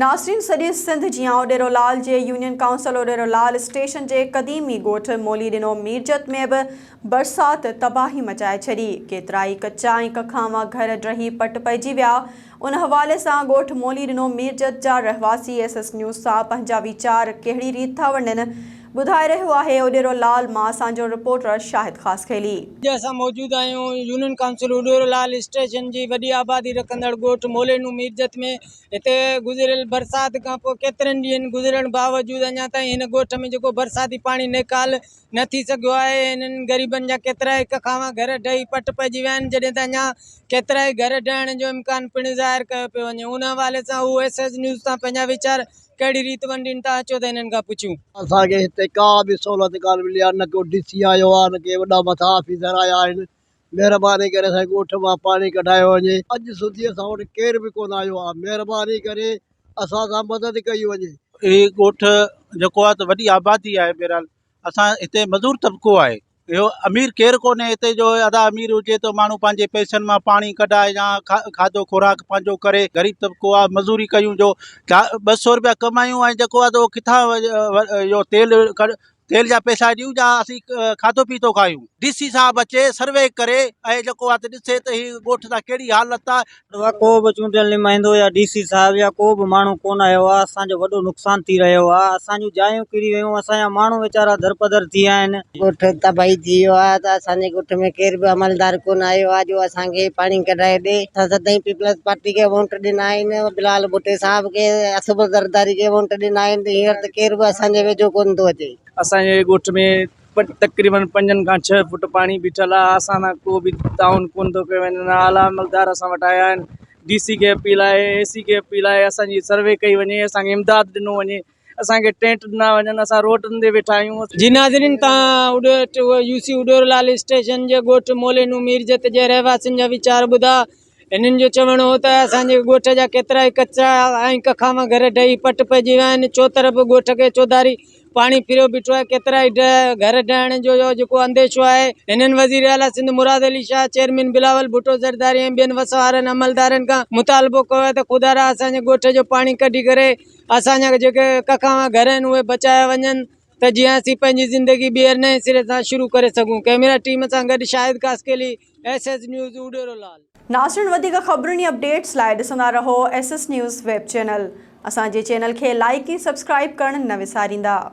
ناصرين سڄي سنڌ جيان اوڏيرو لال جي union council Odero Lal station جي قديمي ڳوٺ مولي ڏنو ميرجت ۾ به برسات تباهي مچائي ڇڏي ڪيترائي ڪچا ۽ ڪکانوا گهر ڊهي پٽ پئجي ويا ان حوالي سان ڳوٺ مولي ڏنو ميرجت جا رهواسي ايس ايس نيوز سان پنهنجا ويچار ڪهڙي ريت ٿا ونڊن ٻڌائي رهيو آهي اوڏيرو لال مان اسان جو رپورٽر شاهد خاصخيلي. اڄ اسان موجود آهيون union council Odero Lal station جي وڏي آبادي رکندڙ ڳوٺ مولي ڏنو ميرجت ۾ هتي گذريل برسات کانپوء ڪيترن ڏينهن گذرڻ باوجود اڃا تائين هن ڳوٺ ۾ جيڪو برساتي پاڻي نيڪال نه ٿي سگهيو آهي انهن غريبن جا ڪيترائي هڪ کانوا گهر ڊهي پٽ پئجي ويا آهن جڏهن ته اڃا ڪيترائي گهر ڊهڻ جو امڪان پڻ ظاهر ڪيو پيو وڃي ان حوالي سان هو ايس ايس نيوز تان پنهنجا ويچار ڪهڙي ريت ونڊين ٿا اچو ته هنن کان پڇيون. اسان کي هتي ڪا به سهولت ڪانه ملي آهي نه ڪو ڊي سي آيو آهي نه ڪي وڏا مٿا آفيسر آيا آهن مهرباني ڪري اسان جي ڳوٺ مان پاڻي ڪڍايو وڃي اڄ سڌي اسان وٽ ڪير به ڪونه آيو آ مهرباني ڪري اسان سان مدد ڪئي وڃي. هي ڳوٺ جيڪو آهي ته وڏي آبادي آهي بهرحال اسان هتي مزور طبقو آهي اهو امير ڪير ڪونهي هتي جو ادا امير هجي ته ماڻهو پنهنجي پئسن مان پاڻي ڪڍائي يا کاڌو خوراڪ پنهنجو ڪري غريب طبقو آهي مزوري ڪيون جو ٻه سو روپيا ڪمايون ۽ جيڪو آهي ته اهو ڪٿان اهو تيل تيل جا پئسا ڏيون يا اسين کاڌو پيتو کايون ڊي سي صاحب اچي سروي ڪري ۽ جيڪو آهي ڏسي ته هي ڳوٺ سان ڪهڙي حالت آهي. اها ڪو به چونڊيل نمائندو يا ڊي سي صاحب يا ڪو به ماڻهو ڪون آيو آهي اسان جو وڏو نقصان ٿي رهيو آهي اسان جون جايون ڪري ويون اسان جا ماڻهو ويچارا درپدر ٿي ويا آهن. ڳوٺ تباهي ٿي ويو آهي ته اسان جي ڳوٺ ۾ ڪير به عملدار ڪون آيو آهي جو اسان کي پاڻي ڪڍرائي ڏي اسان سدائين پيپلز پارٽي کي وونٽ ڏنا آهن بلال ڀٽي صاحب کي اصف زرداري کي وونٽ ڏنا آهن ته هينئر ته ڪير به اسان جي ويجهو ڪونه ٿو اچي. اسان جي ڳوٺ ۾ تقريبن پنجن کان ڇهه فوٽ پاڻي بيٺل آهي اسان سان ڪو به تعاون ڪونه ٿو ڪيو وڃي نه اعليٰ عملدار اسان وٽ آيا آهن ڊي سي کي اپيل آهي اي سي کي اپيل آهي اسان جي سروي ڪئي وڃي اسان کي امداد ڏنو وڃي اسان کي ٽينٽ ڏنا وڃن اسان روڊن تي ويٺا آهيون. جي ناظرين توهان يو سي اڏورلال اسٽيشن جي ڳوٺ مولينو ميرجت جي رهواسين جا ويچار ٻڌا. هنن جو چوڻ هو ته اسان جي ڳوٺ جا ڪيترائي ڪچا ۽ ڪکاما گهر ڊهي پٽ پئجي ويا آهن، چوطرف ڳوٺ کي چوڌاري پاڻي ڦريو بيٺو آهي، ڪيترائي گهر ڊهڻ جو جيڪو انديشو آهي، هنن وزير اعليٰ سنڌ مراد علي شاهه، چيئرمين بلاول ڀٽو زرداري ۽ ٻين وسوارن عملدارن کان مطالبو ڪيو آهي ته خدارا اسان جي ڳوٺ جو پاڻي ڪڍي ڪري اسان جا جيڪي ڪکاما گهر آهن اهي بچايا وڃن. ته جيئن اسين پنهنجي زندگي ٻيهر نئين سري سان شروع ڪري سگهون ڪئميرا ٽيم سان گڏ Shahid Kasqali S S news Udero Lal. ناظرين وڌيڪ خبرن ۽ اپڊيٽس لاء ڏسندا رهو S S news web channel. اسان جي چينل کي لائيڪ ۽ سبسڪرائيب ڪرڻ نه وساريندا.